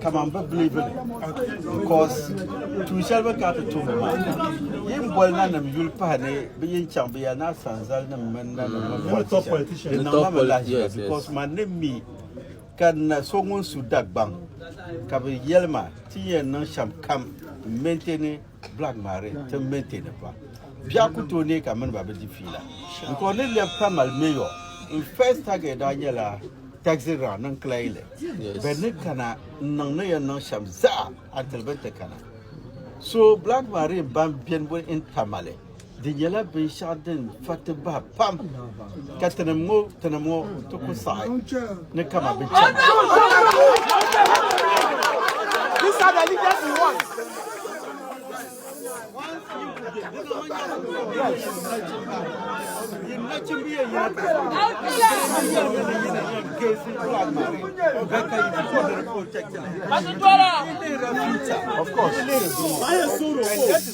kaman bɛ biliivi li bikos tuun shɛli bɛ ni kana ti tumdi maa, yin boli nanim yuli pahi ni bɛ yin chaŋ bɛ ya naa sanzalinim mini nanim mini politicians, di niŋ ma mi lahiʒiba bikos man ni mi ka n na so ŋun su Dagbaŋ ka bɛ yɛli ma ti ni yɛn niŋ shɛm kam m-maintain Black maa di ti maintain pa. Biɛɣu ku tooi neei ka mini ba bi di fiila. N kɔŋ ni lɛbi ka mali mayor. N first target daa nyɛla taxi round ni n claim li. Bɛ ni kana n niŋ ni yɛn niŋ shɛm zaa until bɛ ni ti kana. So Black Marine ban beni boli n Tamale. Di nyɛla binshɛɣu din fa ti bahi pam ka tinim ŋɔ tinim ŋɔ ti ku saɣi ni kama bi chana. These are the leaders we want. Of course.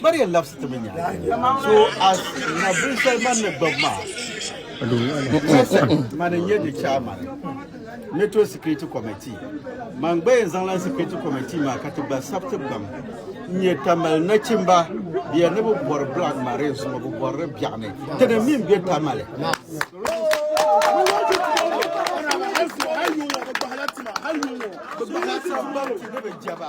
Maria labsi ti mi nyaanga so as na binsali man ni gbabi maa Wilson man n-nyɛ di chairman Metro Security Committee man gba yɛn zaŋla Security Committee maa ka ti gba sabiti gbam n-nyɛ Tamale nachimba bia ni bi bɔri Black Marine zuŋɔ bi bɔrili biɛɣu ni ti ni min be Tamale Hali yuŋɔ bi gbahila tima hali yuŋɔ bi gbahila tima